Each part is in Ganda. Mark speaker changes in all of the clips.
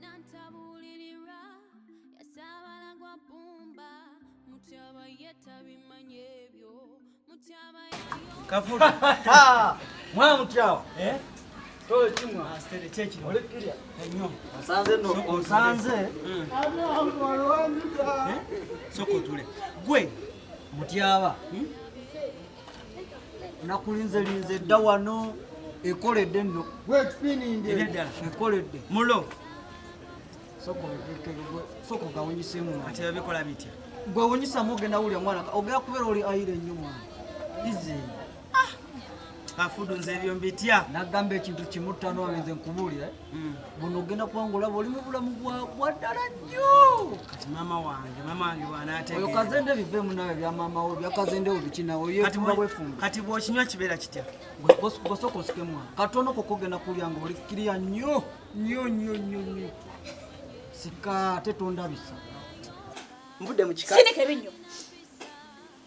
Speaker 1: nantabuulirirwa
Speaker 2: yasaabala gwa bbumba mutyaba ye tabimanya ebyo mutyaba kavula mwana mutyawa eh? onsanze hmm. eh? sokotule gwe mutyaba hmm? nakulinze linze dda wano ekoledde nno eddala ekoledde mulo soka ogawunyisemu ati babikola bitya gwe awunyisamu ogenda wulya mwana ogera kubeera oli ayira ennyo mwana izi ah! afudu nze ebyo mbitya nagamba ekintu kimu ttano abenze nkubuulira Mm. buno ogenda kuwangula bwoli mu bulamu bwaddala nnyo kati maama wange maama wange bwanateoyo kazende biveemu nawe bya maama wo bya kazende wo bikinawe oyefumba bwefumba kati bwokinywa kibeera kitya bwosooka osikemu wange katono koko ogenda kulya nga oli kiriya nnyo nnyo nnyo nnyo nnyo sika ate tondabisa mbudde mu kika sindika ebinnyo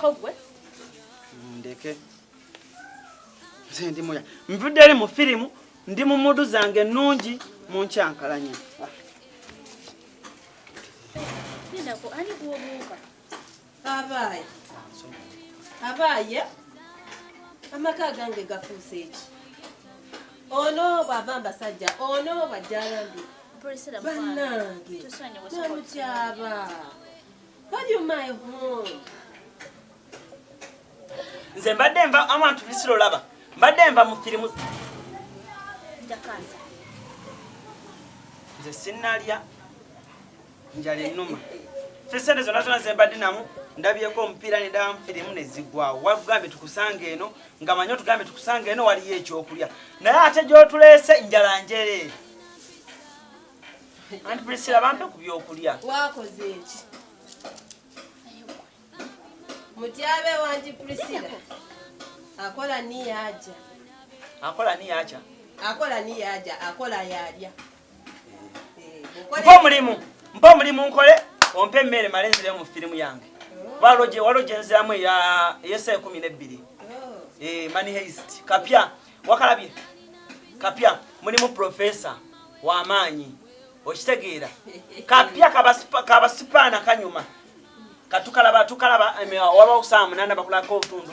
Speaker 3: kogwe
Speaker 2: ndeke nze ndi muya nvudde eri mu firimu ndi mu mudu zange ennungi mu nkyankalanya
Speaker 3: abaaye
Speaker 4: abaaye amaka agange gafuuse eki ono bwava mbasajja ono bwajjalambi
Speaker 3: banange
Speaker 4: namutyaba
Speaker 2: nze mbadde nva awantu bisiro laba mbadde nva mu firimu
Speaker 3: nze
Speaker 2: sinalya njala enuma fesente zona zona zembadde namu ndabyeko omupiira nedaba mufirimu nezigwawo wagambye tukusanga eno nga manyi otugambye tukusanga eno waliyo ekyokulya naye ate gyotuleese njala njereere Anti Priscilla bampe ku byokulya. Wakoze eki?
Speaker 4: Mutyabe wanti Priscilla. Akola ni yaja. Akola
Speaker 2: ni yaja. Akola ni yaja,
Speaker 4: akola yalya. Mpa
Speaker 2: omulimu, mpa omulimu nkole, ompe emmere male nzire mu firimu yange. Waloje, waloje nziramu ya yesa ekumi n'ebbiri. Oh. Eh, money heist. Kapya. wakalabye kapya mulimu profesa wamaanyi okitegeera kapya kabasipaana kanyuma katukalaba tukalaba wabawo saa munana bakulako obutundu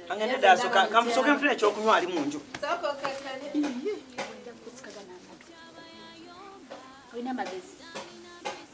Speaker 4: angende
Speaker 3: dasoka
Speaker 2: kamusoke nfuna ekyokunywa ali munju
Speaker 3: olina amagezi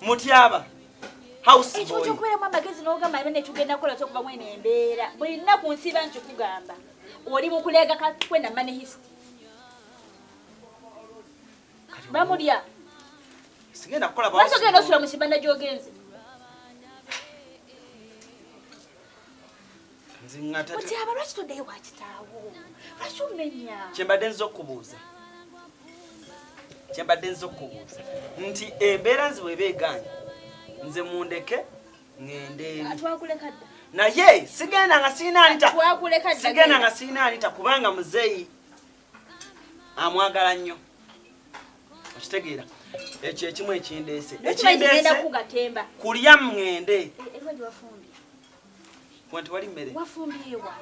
Speaker 2: Mutyaba house boy. Ekyo kubera mama gezi no
Speaker 3: gamba bane tugenda kola kyo kuba mwene embera. Buli na ku nsiba nti kugamba. Oli mu kulega ka kwenda mane history. Bamulya.
Speaker 2: Singenda kola ba. Basoke no sura mu kibanda
Speaker 3: jogenze.
Speaker 2: mutyaba lwaki toddeyo
Speaker 3: wa kitaawo lwaki omenya kyembadde nza okubuuza
Speaker 2: kyembadde nza okubuuza nti embeera nzi bweba egaanyi nze mundeke ngendeeritwakulekadda
Speaker 3: naye sigenda
Speaker 2: nga sirina alita sigenda
Speaker 3: nga sirina alita
Speaker 2: kubanga muzeeyi amwagala nnyo okitegeera ekyo ekimu ekindeese ekindeese
Speaker 3: kulya mngende
Speaker 2: eh, eh,
Speaker 3: Mwa
Speaker 2: tewali mmere. Wafumbyewa.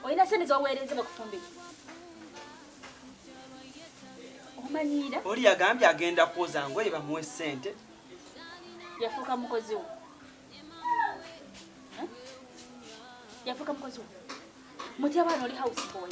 Speaker 3: Olina sente z'oweereza bakufumbire. Omanyiira? Oli yagambye
Speaker 2: agenda kwoza ngoye bamuwe ssente.
Speaker 3: Yafuuka mukozi wo. Yafuuka mukozi wo. Mutyaba oli house boy.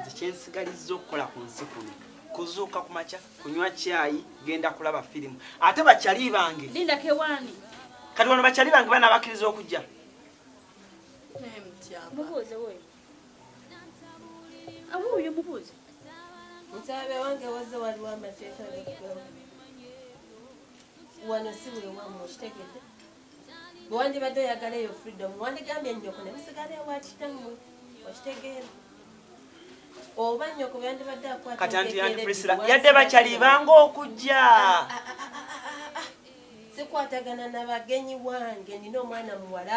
Speaker 2: nze kyensigalizza okukola ku nsi kuno kuzuuka ku makya kunywa kyayi genda kulaba firimu ate bakyali bange
Speaker 3: kati wano bakyali
Speaker 2: bange bana bakkiriza okujja
Speaker 3: wano si wewamu
Speaker 4: kitegedde bwe wandibadde oyagala eyo freedom wandigambye nnyoko ne musigala ewa kitammwe okitegeera oba nnyoko bwe yandibadde akwataantiandiprisila
Speaker 2: yadde bakyalibanga okujja ah, ah, ah,
Speaker 4: sikwatagana na bagenyi wange nina omwana muwala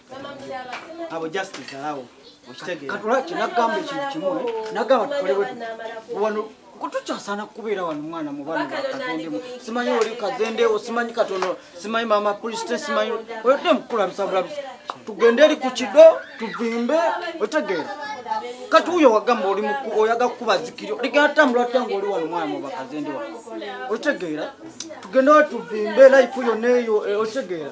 Speaker 4: abo just
Speaker 2: zalawo okitegeera katula kinagamba
Speaker 5: ekintu kimu nagamba tukolewe wano kutukyasana kubeera wano mwana mubana bakazendemu simanyi oli kazendewo simanyi katono simanyi mama puliste simanyi oyodde mukulabisabulabisa tugende eri ku kido tuvimbe otegeera kati uyo wagamba oli muku oyaga kukuba zikiri ligenda tambula otya ngaoli wano mwana mubakazende wa otegeera tugende watuvimbe life yona eyo eh, otegeera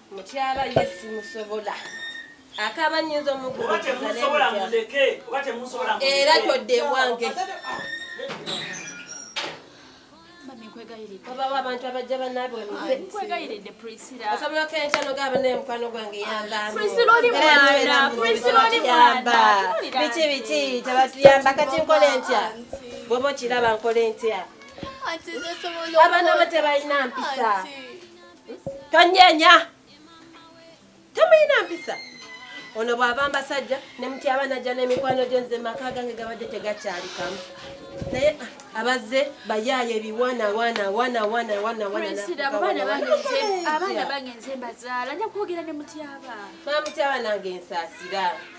Speaker 4: Mutyaba ye simusobola akaba nyinza
Speaker 6: omuguera todde ewange
Speaker 4: obawo abantu abajja banaabwe
Speaker 3: osobolako enkya nogamba
Speaker 4: naye mukwano gwange
Speaker 3: yambabiki biki
Speaker 4: tebatuyamba kati nkole ntya bwoba okiraba nkole ntya abaana bo tebalina mpisa tonyenya temuyina mpisa ono bw'ava mbasajja ne mutyaba najja n'emikwano gye nze maka gange gabadde tegakyalikamu naye ah, abazze bayaaye ebiwana wana wana wana wana
Speaker 3: abaana bagenze mbazaala nja kwogera ne mutyaba ba mutyaba nange
Speaker 4: nsaasira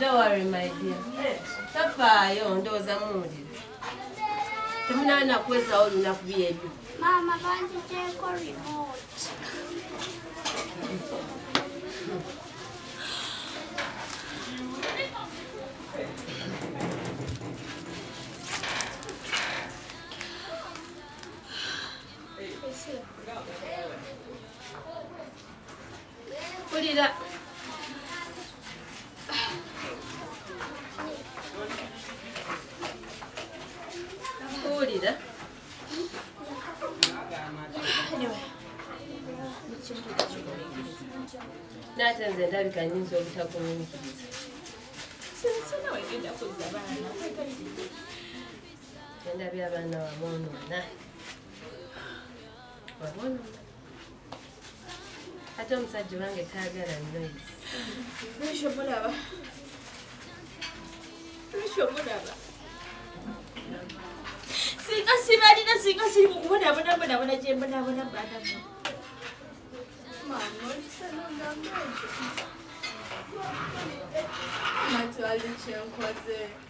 Speaker 1: Don't
Speaker 4: worry my dear. Tafaayo ndowooza muwulira. Temunaana kwezawo olunaku byebyo. Maama
Speaker 1: banjijeko remote.
Speaker 4: Kulira. Kulira. Nate nze ndabika nyinza obutakunyumikiriza. Sinsona wegenda kuzza baana. Genda bya baana wabonoona. Wabonoona. ate omusajja owange taagala noise lwekyo mulaba lwekyo
Speaker 3: mulaba singa sibalina singa siri mukubonaabonabonabona gyembonabona banamu Mama,
Speaker 7: tu ali, tinha um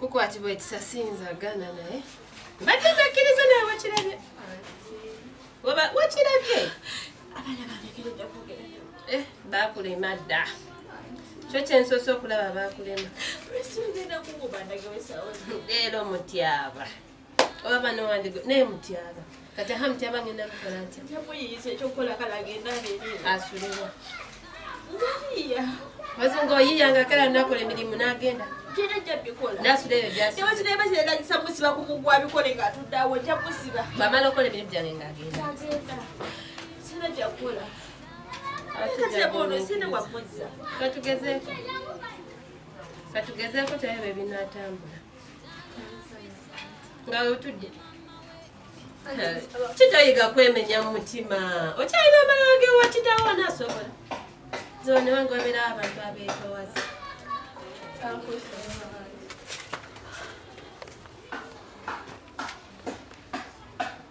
Speaker 4: kukwatibwa ekisasi nzagana naye mbadde nakkiriza naye wakirabye oba wakirabye abaana
Speaker 3: banekeredde kwogera eh, bakulema dda
Speaker 4: kyo kyensoose okulaba bakulema
Speaker 3: leero mutyaba
Speaker 4: oba bana wange naye mutyaba kati aha mutyaba ngenda kukola ntya muyiyiza ekyokukola
Speaker 3: kala agenda abeerere asulibwa ngayiya baze
Speaker 4: nga oyiya nga kala nakola emirimu n'agenda
Speaker 3: bamala
Speaker 4: okola
Speaker 3: emirimu gyange ng'agenda
Speaker 4: katugezeeko katugezeeko tebyo bye binaatambula nga wetudde kitayiga kwemenya mu mutima okyalina amalala gewa kitawo nasobola zona wange wabeera abantu abeetowaza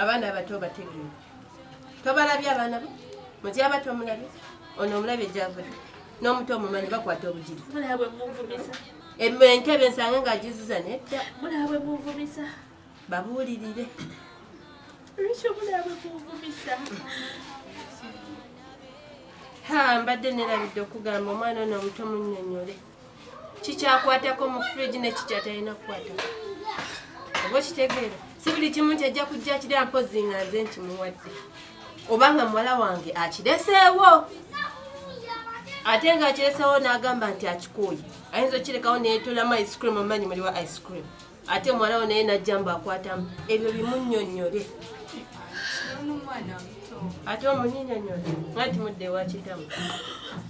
Speaker 3: abaana
Speaker 4: abato bategeera tobalabye abaana bo mutyaba tomulabye ono omulabye gyavudde n'omuto omumanyi bakwata obujiri
Speaker 3: entebe
Speaker 4: nsange nga agizuza nedda
Speaker 3: babuulirire
Speaker 4: mbadde nerabidde okugamba omwana ono omuto munyonyole kikyakwatako mu fridge nekikyatalina kukwatako oba okitegeera si buli kimu nti ajja kujja kiri ampozi nga nze nkimuwadde oba nga muwala wange akireseewo ate nga akireseewo n'agamba nti akikooye ayinza okukirekawo neyetolamu ice cream omanyi muliwa ice cream ate muwala wo naye najja mbu akwatamu ebyo bimunyonyole ate omunyonyonyole nga timudde wakitamu